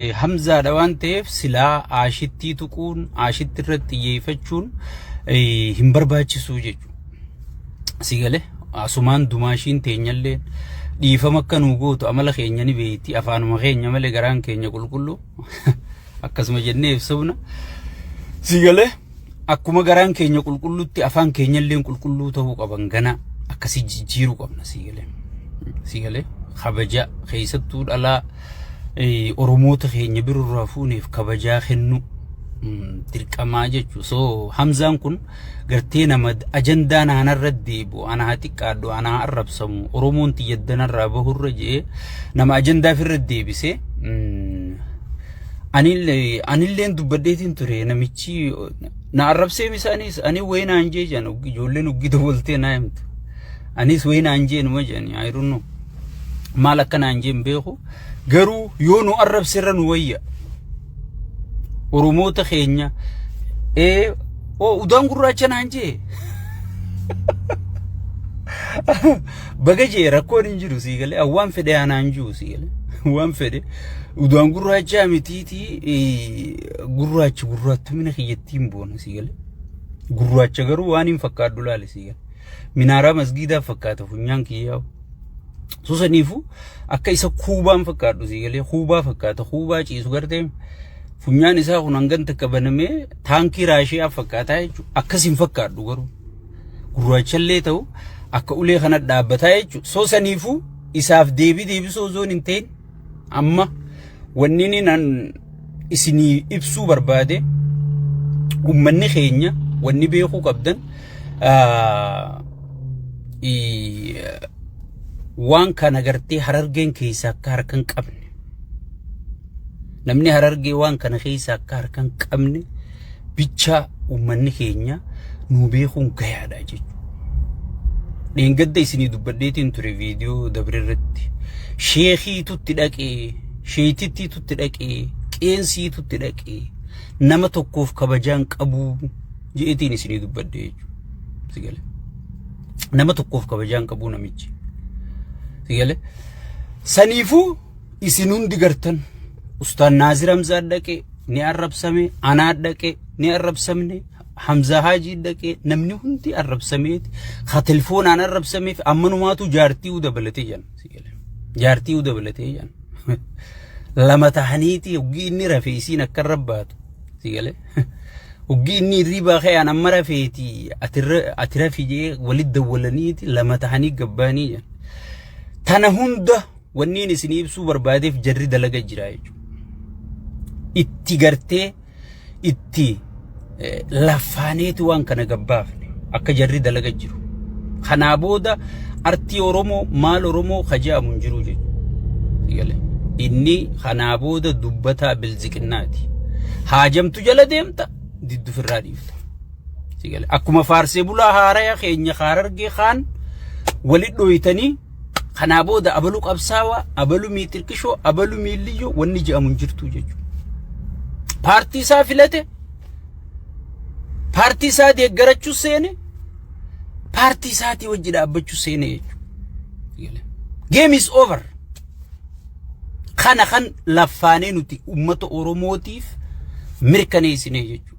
Hamzaadha waan ta'eef silaa aashittii tuquun aashitti irratti xiyyeeffachuun hin barbaachisu jechuudha. Si galee asumaan dumaashiin teenyalleen dhiifama akka nuu gootu amala keenya ni beekti afaanuma keenya malee garaan keenya qulqulluu akkasuma jennee ibsumna. Si galee. akkuma garaan keenya qulqulluutti afaan keenyalleen qulqulluu ta'uu qaban gana akkasii jijjiiruu qabna sii galee sii galee kabaja keessattuu dhalaa eh, oromoota keenya birorraa fuuneef kabajaa kennu mm, dirqamaa jechuu so hamzaan kun gartee nama ajandaa naanarra deebi'u ana haa xiqqaadhu ana haa arrabsamu oromoon tiyya danarraa bahurra jee nama ajandaa firra deebisee mm, Anillee anilleen dubbadheetiin ture namichi na arrabsee misaanis ani wayii naan jee jedhan oggi- ijoolleen oggii dabaltee naa himtu. Anis wayii naan jee numa jedhani I don't know. Maal akka naan jeen beeku garuu yoo nu arrabse irra nu wayya. Oromoota keenya ee oo udaan gurraacha naan jee. Baga jee rakkoon hin jiru sii galee waan fedhe anaan jiru sii galee waan fedhe udaan gurraachaa mitiitii gurraacha gurraattumina kiyyattiin boona sii galee gurraacha garuu waan hin fakkaadhu laale sii galee minaaraa masgiidaa fakkaata funyaan kiyyaa susaniifu akka isa kuubaan fakkaadhu sii galee kuubaa fakkaata kuubaa ciisu gartee funyaan isaa kun hangan takka banamee taankii raashiyaa fakkaataa jechuudha akkas hin fakkaadhu garuu. gurraachallee ta'u akka ulee kana dhaabbataa jechuudha. So saniifuu isaaf deebii deebisuu osoo hin ta'in amma wanni inni nan isinii ibsuu barbaade ummanni keenya wanni beekuu qabdan ah, i- waan kana gartee harargeen keessaa akka harka hin qabne Namni harargee waan kana keessa akka harka hin qabne bichaa uummanni keenya nuu beekuun gayaadha jechuudha. Dheengadda isinii dubbadheetiin ture viidiyoo dabre irratti. Sheekiitutti dhaqee, sheetittiitutti dhaqee, qeensiitutti dhaqee, nama tokkoof kabajaan qabuu jeetiin isinii dubbadhe jechuudha. Sigale. Nama tokkoof kabajaan qabuu namichi. Sigale. Saniifuu isin hundi gartan ustaan naazir hamzaa dhaqe ni arrabsame anaa dhaqe ni arrabsamne hamzaa haajii dhaqe namni hundi arrabsameeti ka telefoonaan arrabsameef ammanumaatu jaartii u dabalatee jan jaartii u dabalatee jan lama tahaniiti hoggii inni rafe isiin akka rabbaatu si galee hoggii inni hirriibaa ka'aan amma rafeeti ati rafi jee walit dawwalaniiti lama tahanii gabbaanii jan tana hunda Wanniin isin ibsuu barbaadeef jarri dalaga jira jechuudha. Itti gartee itti lafaaneeti waan kana gabbaafne akka jarri dalaga jiru. Kanaa booda artii Oromoo maal Oromoo ka jedhamu hin jiru jechuudha. Inni kanaa booda dubbataa bilziqinnaati. Haajamtu jala deemta diddu firraa dhiifta. Akkuma faarsee bulaa haaraya keenya haarargee kaan walitti dhooytanii Kanaa booda abalu qabsaawaa, abalu miitirqishoo, abalu miilliyyoo wanni je'amu hin jirtu jechuudha. Paartii isaa filate, paartii isaa deeggarachuu seene, paartii isaatii wajji dhaabbachuu seene jechuudha. Game is over. Kana kan laffaanee nuti uummata Oromootiif mirkaneessinee jechuudha.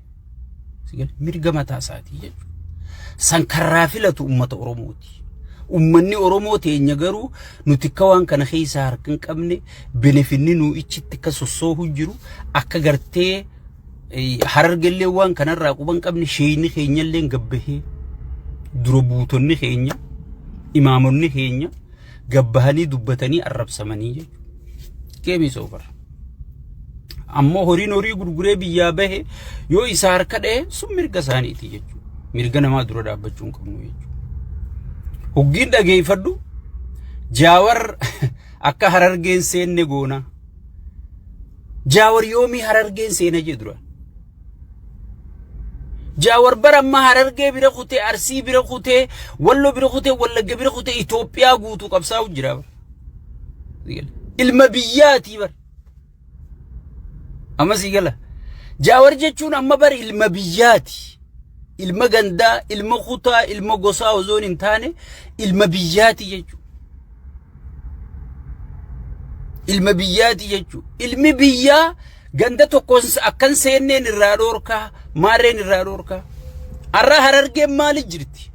Mirga mataa isaatii jechuudha. San karraa filatu uummata Oromooti. Uummanni Oromoo teenya garuu nuti akka waan kana keessaa harka hin qabne benefinni nuu ichitti akka sossoohu jiru akka gartee harargellee waan kanarraa quba hin qabne sheeyni keenyallee gabbahee dura buutonni keenya imaamonni keenya gabbahanii dubbatanii arrabsamanii jechuudha. Geemii soofar. Ammoo horiin horii gurguree biyyaa bahe yoo isa harka dhahe sun mirga isaaniiti jechuudha. Mirga namaa dura dhaabbachuu hin qabnu jechuudha. Huggiin dhageeffadhu jaawar akka harargeen seenne goona. Jaawar yoomii harargeen seena jee dura. Jaawar bara amma Harargee bira kutee, Arsii bira kutee, Wallo bira kutee, Wallagga bira kutee Itoophiyaa guutuu qabsaa'u jira bara. Ilma biyyaatii bara. Amma sii gala. Jaawar jechuun amma bara ilma biyyaati. Ilma gandaa, ilma kutaa, ilma gosaa osoo hin taane ilma biyyaati jechuudha. Ilma biyyaati jechuudha. Ilmi biyyaa Ganda tokko akkan seenneen irraa dhoorkaa, maarreen irraa dhoorkaa. Arraa harargeen maali jirti?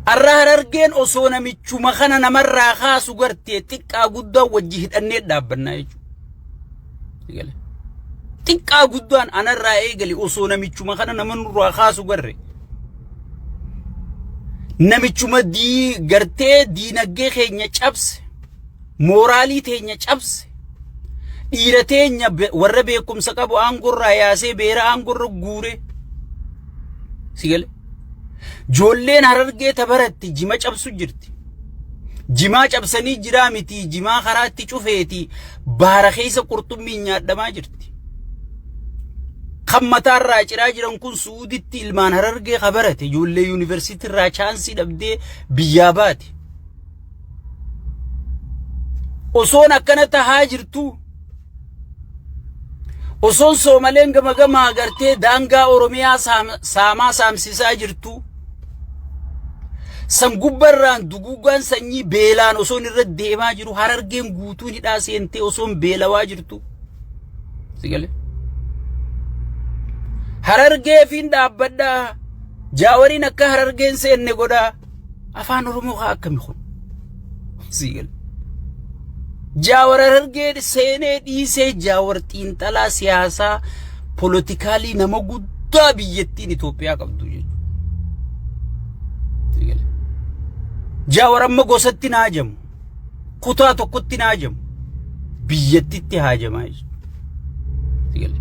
Arraa harargeen osoo namichuma kana namarraa kaasu gartee xiqqaa guddaa wajji hidhannee dhaabbannaa jechuudha. Xiqqaa guddaan anarraa eegale osoo namichuma kana nama nurraa kaasu garre. Namichuma dii gartee diinagdee keenya cabse. mooraalii teenya cabse dhiira teenya be- warra beekumsa qabu aangorraa yaasee beera aangorra guure si gale joolleen harargee tabaratti jima cabsu jirti jimaa cabsanii jiraa miti jimaa karaatti cufeeti baara keessa qurxummiin nyaadhamaa jirti kan mataarraa ciraa jiran kun suuditti ilmaan harargee kabarate ijoollee yuunivarsiitii irraa chaansii dhabdee biyyaa baate osoon akkana tahaa jirtuu osoon soomaleen gama gamaa agartee daangaa oromiyaa saam- saamaa saamsisaa jirtuu san gubbarraan duguugaan sanyii beelaan osoon irra deemaa jiru harargeen guutuun hidhaa seentee osoon beelawaa jirtu sigale harargeefiin dhaabbadhaa jaawariin akka harargeen seenne godhaa Afaan Oromoo kaa akkami kun? Sii gala. Jaawar Harargee seenee dhiisee jaawar xiinxalaa siyaasaa polotikaalii nama guddaa biyyattiin Itoophiyaa qabdu jechuudha. Sii gala. Jaawar amma gosatti naajamu. kutaa tokkotti hin haajamu. Biyyattitti haajamaa jechuudha.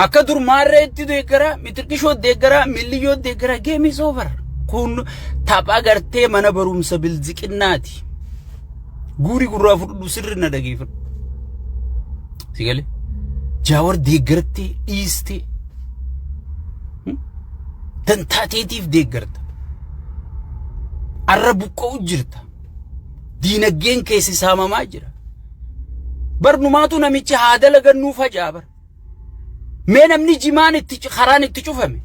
Akka dur maarreetti deeggaraa, mitirqishoo deeggaraa, milliyyoo deeggaraa geemii soofar. Kun tapha gartee mana barumsa bilziqinnaati. Guuri gurraa fudhu sirri na dhageeffadhu. Sigalee. Jaawar deeggartee dhiistee Dantaa teetiif deeggarta. Arra buqqa'u jirta. Diinaggeen keessi saamamaa jira. Barnumaatu namichi haa dalagannuu faca'a bara. Mee namni jimaan itti karaan itti cufame.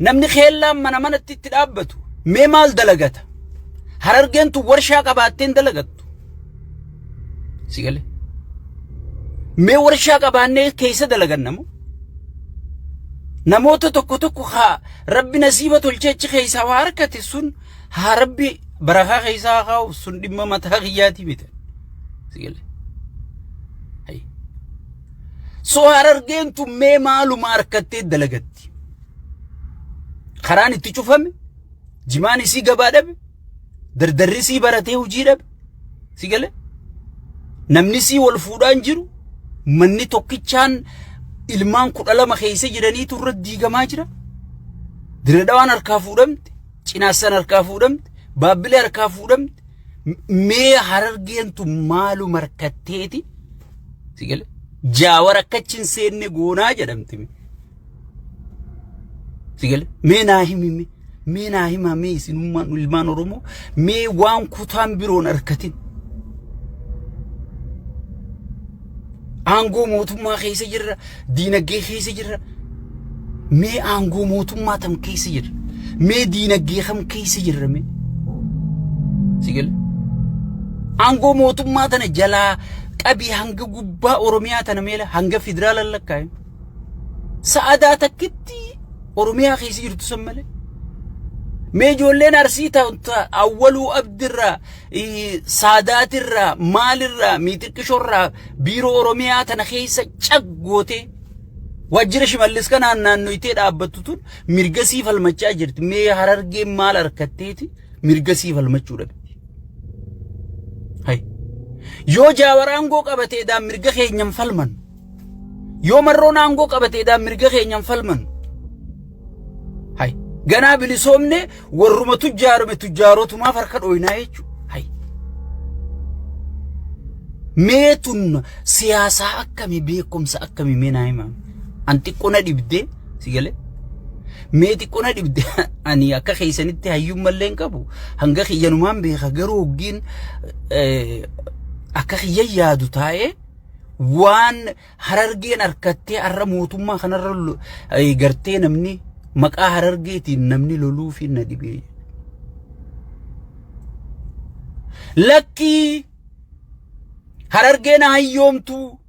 Namni keellaan mana manatti itti dhaabbatu. Mee maal dalagata? Harargeen tun warshaa qabaatteen dalagattu. Si gale? Mee warshaa qabaannee keessa dalaganna moo? Namoota tokko tokko haa rabbi nasiiba tolchee achi keessaa waa harkate sun haa rabbi barakaa keessaa haa kaa'u sun dhimma mataa kiyyaatii miti. Si gale? Hayy. So harargeen tun mee maaluma harkattee dalagatti? Karaan itti cufame? Jimaan isii gabaa dhabe? dardarri sii baratee hojii dhabe si gale namni sii wal fuudhaan jiru manni tokkichaan ilmaan kudha lama keessa jiraniitu irra diigamaa jira diradawaan harkaa fuudhamte cinaassan harkaa fuudhamte baabbilee harkaa fuudhamte mee harargeentu maalu markatteeti si gale jaawar akkachi hin seenne goonaa jedhamte Sigale mee naa himi mee mee naa himaa mee isinummaan ilmaan Oromoo mee waan kutaan biroon harkatin. Aangoo mootummaa keessa jirra diinagdee keessa jirra mee aangoo mootummaa tam keessa jirra mee diinagdee kam keessa jirra mee. Sigale aangoo mootummaa tana jalaa qabii hanga gubbaa Oromiyaa tana meela hanga federaala lakkaa'e. Sa'adaa takkitti Oromiyaa keessa jirtu san malee. Mee ijoolleen arsii ta'uta awwaluu abdirraa, ii, saadaatirraa, maalirraa, miixiqqishorraa biiroo Oromiyaa tana keessa cag gootee waajjira shimallis kanaan naannoytee dhaabbattu tun mirgasii falmachaa jirti. Mee harargeen maal harkatteeti mirgasii falmachuu dhabe. Hai. Yoo jaawar aangoo qabatee daan mirga keenyan falmannu. Yoo marroon aangoo qabate edaa mirga keenyaan falmannu. Hay. Ganaa bilisoomne warruma tujjaarame tujjaarotumaaf harka dhooynaa jechuudha. Hay. Mee tun siyaasaa akkamii beekumsa akkamii mee naa himaa. An xiqqoo na dhibdee si galee. Mee xiqqoo na dhibde ani akka keessanitti hayyuun mallee hin qabu. Hanga kiyyanumaan beeka garuu hoggiin eh, akka kiyya yaadu taa'ee waan harargeen harkattee har'a mootummaa kanarra lo- eh, gartee namni maqaa harargeetiin namni loluu fi na dhibee. Lakkii harargeen haa hiyyoomtuu,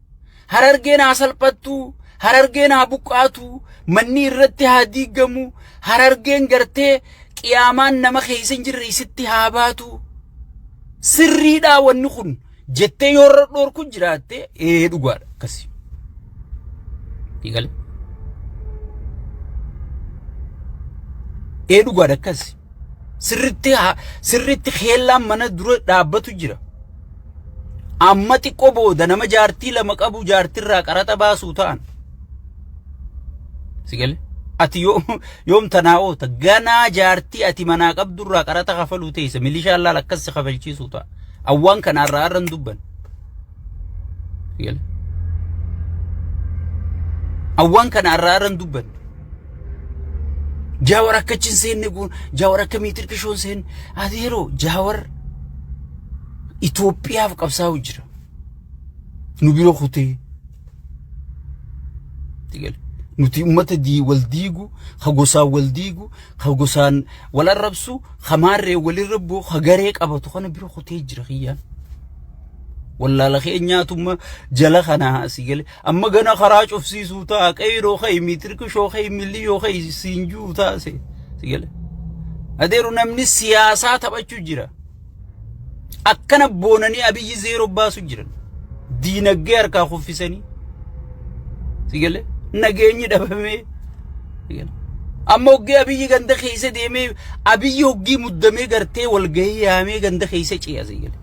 harargeen haa salphattuu, harargeen haa buqqaatuu, manni irratti haa diigamu, harargeen gartee qiyaamaan nama keessa hin jirre isitti haa baatu. Sirriidhaa wanni kun jettee yoo irra dhoorku jiraatte ee dhugaadha akkasi. Eegale. Ee dhugaadha akkasi. Sirritti haa- sirritti keellaan mana dura dhaabbatu jira. Amma xiqqoo booda nama jaartii lama qabu jaartirraa qaraxa baasuu ta'an. Sigale. Ati yoo yoom tanaa oota ganaa jaartii ati manaa qabdurraa qaraxa kafaluu teessa milishaan laal akkas si kafalchiisuu ta'a. Awwaan kana irraa irra hin dubban. Awwaan kana irraa irra hin dubban. Jaawar akka achi hin seenne goon, jaawar akka miitir qishoo hin seenne. Ati yeroo jaawar Itoophiyaaf qabsaa'u jira. Nu bira kutee. Nuti uummata wal diigu, ha gosaan wal diigu, ka gosaan wal arrabsu, ka maarreen walin rabbu, ka garee qabatu kana bira kutee jira kiyyaan. Wallaala keenyaatumma jala kana asii gale. Amma gana karaa cufsiisuu ta'a, qeyroo ka'i, miitirkishoo ka'i, milliyoo ka'i, siin juu ta'a si gale. Adeeru namni siyaasaa taphachuu jira. Akkana boonanii abiyyi zeeroo baasu jiran. Diinaggee harkaa kuffisanii. Sigalee nageenyi dhabamee. Amma hoggee abiyyi ganda keessa deemee abiyyi hoggii muddamee gartee walgahii yaamee ganda keessa ce'a sigalee.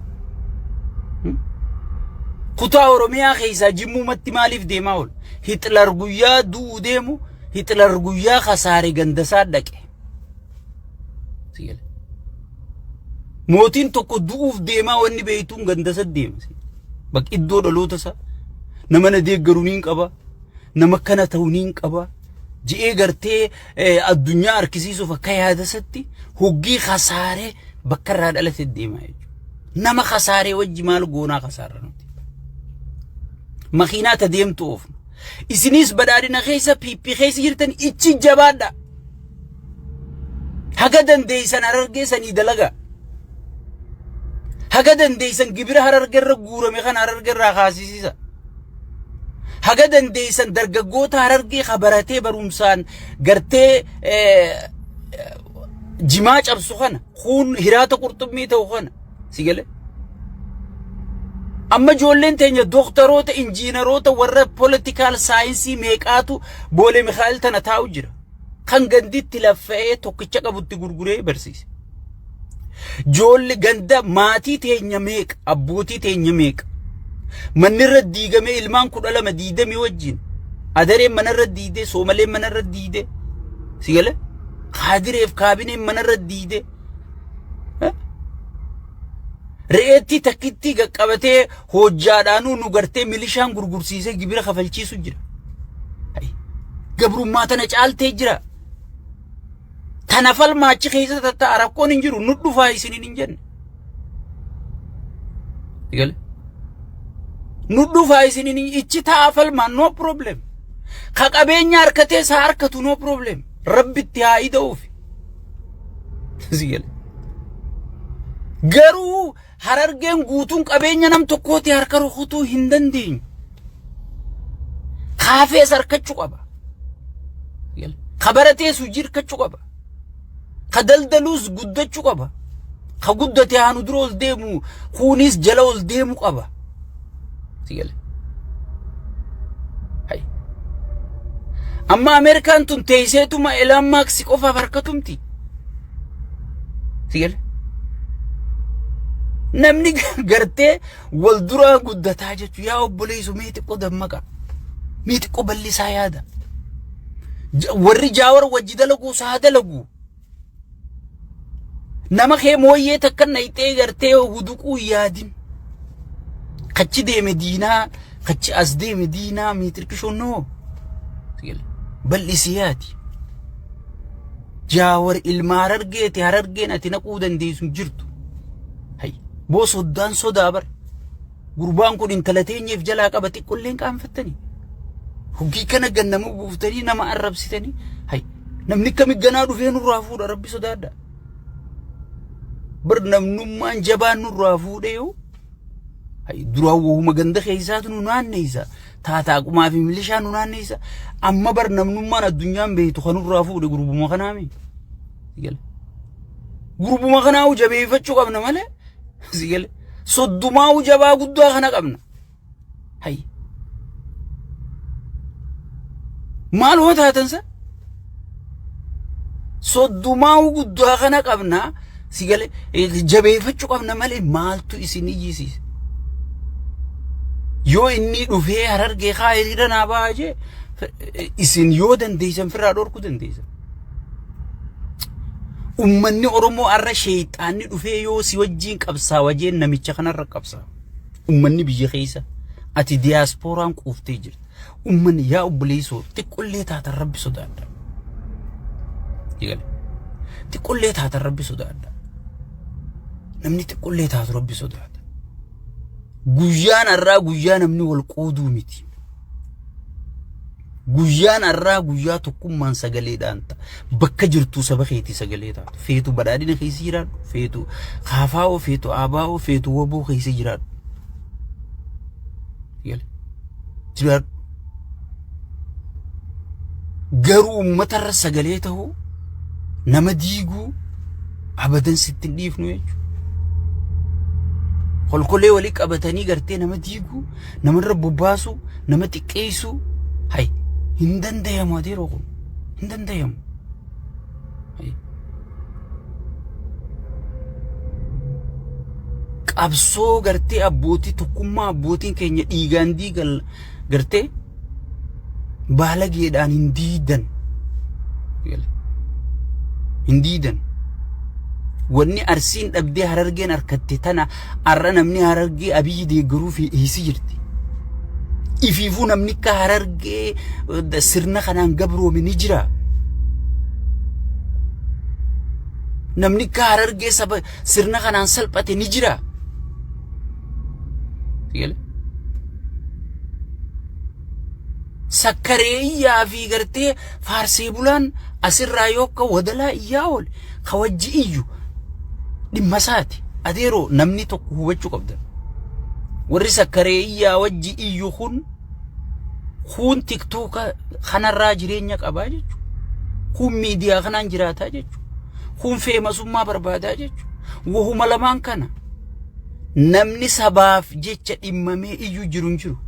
Kutaa Oromiyaa keessaa jimmuumatti maaliif deemaa oolu? Hitler guyyaa du'u deemu Hitler guyyaa kasaare gandasaa dhaqe. Sigalee. Mootiin tokko du'uuf deemaa wanni beektuun gandasa deema. Bakka iddoo dhaloota isaa nama na deeggaru niin qaba. Nama kana ta'u niin qaba. Ji'ee gartee addunyaa harkisiisuuf akka yaadasatti hoggii kasaaree bakka irraa dhalate deema jechuudha. Nama kasaaree wajji maal goonaa kasaarra nuti. Makiinaa ta deemtu oofna. Isiniis badhaadhina keessa PP keessa jirtan ichi jabaadha. Haga dandeeysan harargee sanii dalaga. Haga dandeeysan gibira harargee irra guurame kana harargee irraa kaasisiisa. Haga dandeeysan dargaggoota harargee ka baratee barumsaan gartee jimaa cabsu kana kuun hiraata qurxummii ta'u kana Si galee? Amma ijoolleen teenya dooktaroota, injiinaroota, warra poolitikaal saayinsii meeqaatu boolee Mikaa'el tana taa'u jira. Kan ganditti laffa'ee tokkicha qabutti gurguree barsiise. Ijoolli ganda maatii teenya meeqa, abbootii teenya meeqa. Manni irra diigamee ilmaan kudha lama diidamii wajjin. Adareen mana irra diidee, soomaleen mana irra diidee. Si galee? Kaadireef kaabineen mana irra diidee. Re'eettii takkittii qaqqabatee hojjaadhaanuu nu gartee milishaan gurgursiisee gibira kafalchiisu jira. Gabrummaa tana caaltee jira. Tana falmaa achi keessa tatta'a rakkoon hin jiru nu dhufaa isiniin hin jenne. Gale. Nu dhufaa isiniin hin ichi ta'a falmaa no problem. Ka qabeenya harkatees haa harkatu no problem. Rabbitti haa ida'uufi. Garuu harargeen guutuun qabeenya nam tokkooti harka rukutuu hin dandeenyu. Kaafees harkachuu qaba. Ka baratees hojii harkachuu qaba. Ka daldaluus guddachuu qaba. Ka guddate haanu dura ol deemu kuunis jala ol deemu qaba. itti gale. Hay. Amma Ameerikaan tun teesseetuma Elaan Maaksi qofaaf harkatumti. Itti gale. Namni gartee wal duraa guddataa jechuun yaa obboleessu mee xiqqoo dammaqa. Mee xiqqoo bal'isaa yaada. Warri jaawar wajji dalagu saa dalagu. Nama kee mooyyee takka nayxee gartee huduquu yaadin. Kachi deeme diinaa, kachi as deeme diinaa miitirkishoo noo. Bal'isii yaadi. Jaawar ilma harargeeti harargeen ati naquu dandeessu hin jirtu. Hay, boo soddaan sodaa bara. Gurbaan kun intala teenyeef jalaa qaba xiqqolleen qaanfattanii. Hoggii kana gannama buuftanii nama arrabsitanii. Hay namni kami ganaa dhufee nurraa fuudha rabbi sodaadha. Bar namnummaan jabaan nurraa fuudhee yoo. Hay duraan wahuma ganda keessaatu nu naanneessa. Taataa qumaa fi milishaa nu naanneessa. Amma bar namnummaan addunyaan beektu kan nurraa fuudhe gurbuma kanaami. Gala. Gurbuma kanaa jabeeffachuu qabna malee. Si gale. Soddumaa'uu jabaa guddaa kana qabna. Hayyi. Maal hoo taatan san? Soddumaa'uu guddaa kana qabna. Si gale. Jabeeffachuu qabna malee maaltu isin iyyisiisa? Yoo inni dhufee harargee kaa hiriira naa bahaa jee isin yoo dandeessan firraa dhorkuu dandeessan. Ummanni Oromoo har'a sheeyxaanni dhufee yoo si wajjiin qabsaawa jeen namicha kanarra qabsaa. Ummanni biyya keessa ati diyaaspooraan quuftee jirta. Ummanni yaa obboleessoo xiqqollee taatan rabbi sodaadha. Eegale. Xiqqollee taatan rabbi sodaadha. Namni xiqqollee taatu rabbi sodaata. Guyyaan har'aa guyyaa namni wal qooduu miti. Guyyaan har'aa guyyaa tokkummaan sagaleedhaan ta'a. Bakka jirtuu saba keetii sagalee taatu. Feetu badhaadhina keessa jiraadhu. Feetu kaafaa'oo, feetu aabaa'oo, feetu waboo keessa jiraadhu. Yala. Jiraadhu. Garuu uummatarra sagalee ta'uu nama diiguu abadan sitti hin dhiifnu jechuudha. Kolkolee walii qabatanii gartee nama diiguu namarra bobbaasu nama xiqqeessu hay hin dandayamu ati yeroo kun hin dandayamu. Qabsoo gartee abbootii tokkummaa abbootiin keenya dhiigaan diigan gartee baalageedhaan hin diidan. Hin diidan. Wanni arsiin dhabdee harargeen harkatte tana Har'a namni harargee abiyyi deeggaruu fi dhiyeessi jirti. Ifiifuu namni akka harargee eh, sirna kanaan gabroome ni jira. Namni akka harargee saba sirna kanaan salphate ni jira. Sigale? Sakkaree iyyaa fi gartee faarsee bulaan asirraa yoo akka wadalaa iyyaa oole ka wajji iyyu dhimma isaati. Adeeroo namni tokko hubachuu qabdan. Warri sakkaree iyyaa wajji iyyu kun kun tiktoka kanarraa jireenya qabaa jechuudha. Kun miidiyaa kanaan jiraataa jechuudha. Kun feemasummaa barbaadaa jechuudha. Wahuma lamaan kana namni sabaaf jecha dhimmamee iyyu jiru hin jiru.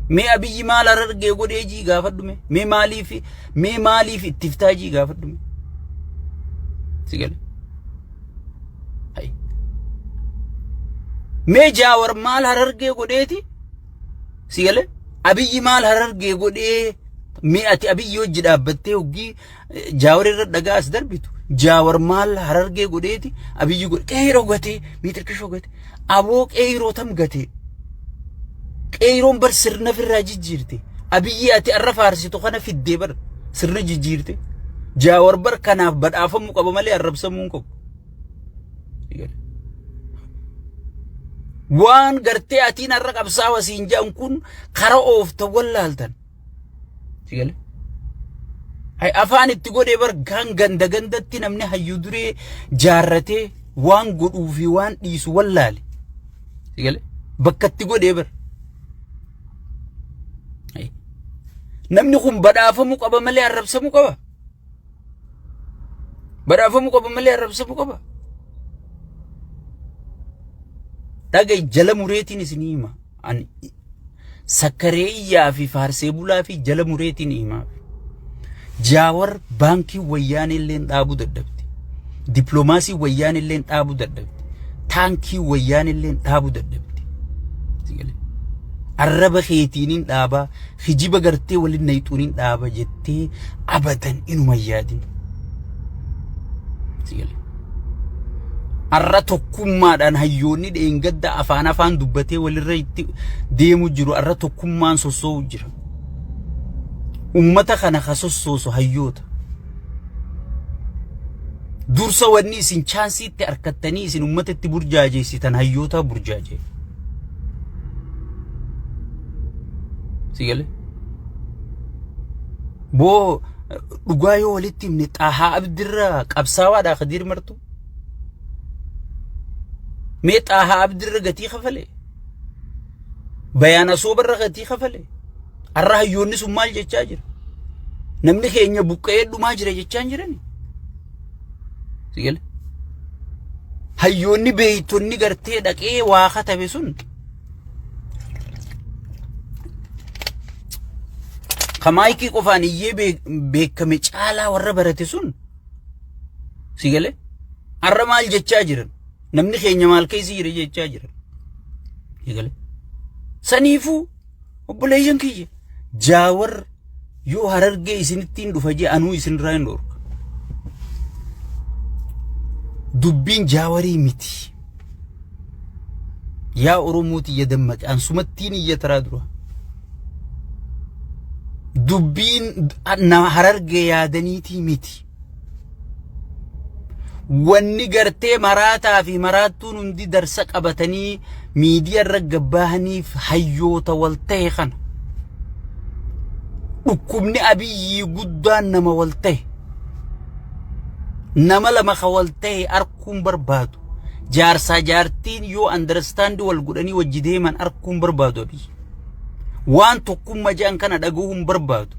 Mee abiyyi maal harargee godhee jii gaafadhu mee mee maaliif Mee maaliif itti ftaa jii gaafadhu. Si gale. Hai. Mee jaawar maal harargee godheeti? Si gale. Abiyyi maal harargee godhee mee ati abiyyi hojji dhaabbattee hoggii jaawar irra dhagaa as darbitu. Jaawar maal harargee godheeti? Abiyyi godhe. Qe'ee dhogate. Miixirkish dhogate. Aboo qeeyroo tam gate. Qeeyroon bar sirna firraa jijjiirte. Abiyyi ati arra faarsitu kana fiddee bar sirna jijjiirte. Jaawar bar kanaaf badhaafamuu qaba malee arrabsamuu hin qabu. Waan gartee atiin arra qabsaawa siin jedhan kun kara oofta wallaaltan. Sigale. Hay afaan itti godhee bar gaan ganda gandatti namni hayyuu duree jaarratee waan godhuu fi waan dhiisu wallaale. Sigale. Bakka itti godhee bar. Hay. Namni kun badhaafamuu qaba malee arrabsamuu qaba. Badhaafamuu qaba malee arrabsamuu qaba. Dhagai jala mureetiin isinii hima. An sakkaree iyyaa fi faarsee bulaa fi jala mureetiin himaaf. Jaawar baankii wayyaanee illeen dhaabuu dadhabde. Dippiloomaasii wayyaanee illeen dhaabuu dadhabde. Taankii wayyaanee illeen dhaabuu dadhabde. Sigalee. Arraba keetiinin dhaabaa hijiba gartee waliin nayxuuniin dhaaba jettee abadan inuma hin yaadin. Sigalee. Har'a tokkummaadhaan hayyoonni dheengadda afaan afaan dubbatee walirra itti deemu jiru. Har'a tokkummaan sossoo'u jira. Uummata kana ka sossoosu hayyoota. Dursa wanni isin chaansiitti arkattanii isin uummata itti burjaajeessitan hayyoota burjaajee. Si galee? Boo dhugaa yoo walitti himne xaahaa abdirraa qabsaawaadhaa kadiir martu. Mee xaahaa abdirra gatii kafale. Bayaan asoobarra gatii kafale. Har'a hayyoonni sun maal jechaa jira? Namni keenya buqqa'ee dhumaa jira jechaa hin jirani. Sigale. Hayyoonni beeytonni gartee dhaqee waa katabe sun Ka maayikii qofaan iyyee beek- beekame caalaa warra barate sun si galee har'a maal jechaa jiran namni keenya maal keessa jira jechaa jiran si galee saniifuu obboleeyyan kiyya Jaawar yoo harargee isinittiin dhufa jee anuu isinirraa hin dhorka. Dubbiin jaawarii miti. Yaa Oromooti ya dammaqe ansumattiin iyya taraa dura. Dubbiin na harargee yaadaniitii miti. Wanni gartee maraataa fi maraattuun hundi darsa qabatanii miidiyaa irra gabbaahaniif hayyoota wal ta'e kana. Dhukkubni abiyyii guddaan nama wal ta'e. Nama lama ka wal ta'e arkuun barbaadu. Jaarsaa jaartiin yoo andarstaandi wal godhanii wajji deeman arkuun barbaadu abiyyi. Waan tokkummaa jedhan kana dhagahuun barbaadu.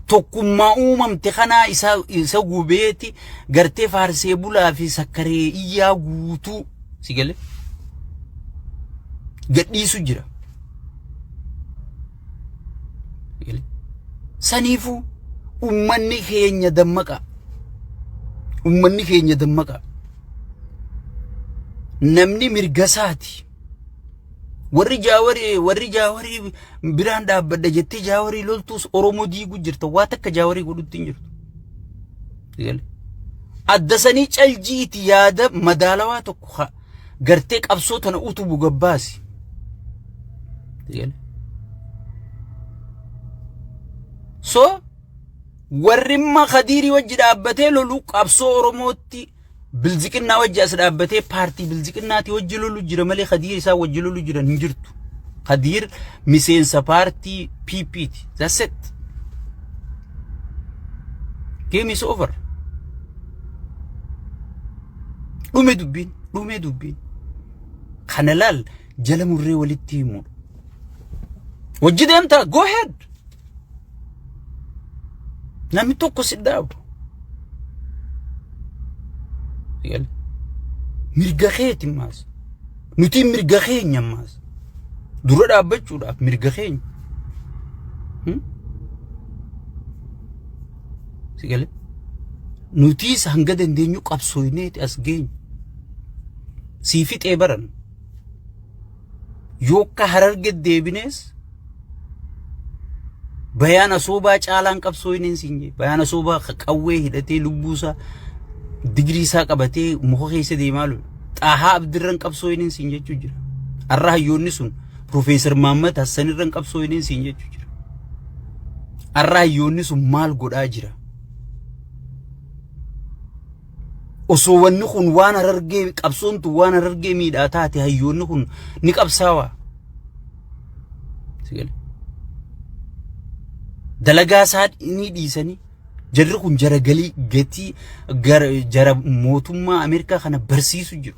Tokkummaa uumamte kanaa isa, isa gubeeti gartee faarsee bulaa fi sakkaree iyyaa guutuu si galee gadhiisu jira. Si galee? Saniifuu ummanni keenya dammaqaa. Ummanni keenya dammaqaa. Namni mirga isaati. Warri jaawarii warri jaawarii biraan dhaabbadha jettee jaawarii loltuus Oromoo diiguu jirta waa takka jaawarii godhutti hin jirtu. Eegale. Adda sanii caljiiti yaada madaalawaa tokko ha- gartee qabsoo tana utubu gabbaasi. Eegale. So warri imma kadiirii wajji dhaabbatee lolu qabsoo Oromootti Bilziqinnaa wajji as dhaabbatee paartii bilziqinnaati wajji lolu jira malee kadiir isaa wajji lolu jiran hin jirtu. Kadiir miseensa paartii PP ti. That's it. Game is over. Dhume dubbiin, dhume dubbiin. Kana laal jala murree walitti himuudha. Wajji deemtaa go ahead. Namni tokko si dhaabu. Mirga keeti maas. Nuti mirga keenya maas. Dura dhaabbachuudhaaf mirga keenya. Si galee? Nutiis hanga dandeenyu qabsooyneeti as geenyu. Sii fixee baranna. Yokka hararge deebinees bayaan asoobaa caalaan qabsoo hin insiin jee bayaan asoobaa qawwee hidhatee lubbuusaa digirii isaa qabatee muka keessa deemaa lolu xaahaa abdirran qabsoo hin insiin jechuu jira har'a hayyoonni sun Profeesar Mahammad Hassanirran qabsoo hin insiin jechuu jira har'a hayyoonni sun maal godhaa jira Osoo wanni kun waan harargee qabsoon tun waan harargee miidhaa taate hayyoonni kun ni qabsaawaa. Dalagaa isaa ni dhiisanii jarri kun jara galii gatii jara mootummaa Ameerikaa kana barsiisu jiru.